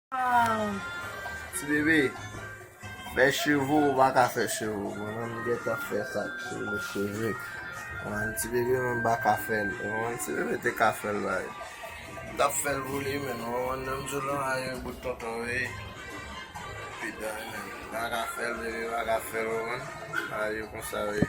Ti bebe, fè cheve ou pa ka fè cheve ou. Mwen menm m gentan fè sa ak cheve cheve. Mwen ti bebe mwen m pa ka fè l. Mwen ti bebe te ka fè l ba li. M ta fè l pou li menm. Mwen menm m di w lan a yon bout tonton veye. Epi dan li menm. M pa ka fè l bebe m pa ka fè l ou menm. A yo konsa veye.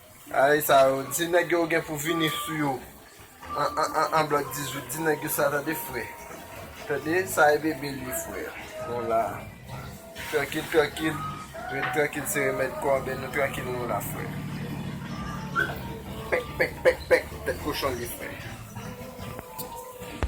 Ayi sa yo di nèg yo gen pou vini sou yo an blòd 18 di nèg yo sa tande frè tande sa e bebe li frè nou la trankil trankil ret trankil se remèd kò anben nou trankil nou la frè pèk pèk pèk pèk tèt kochon li frè.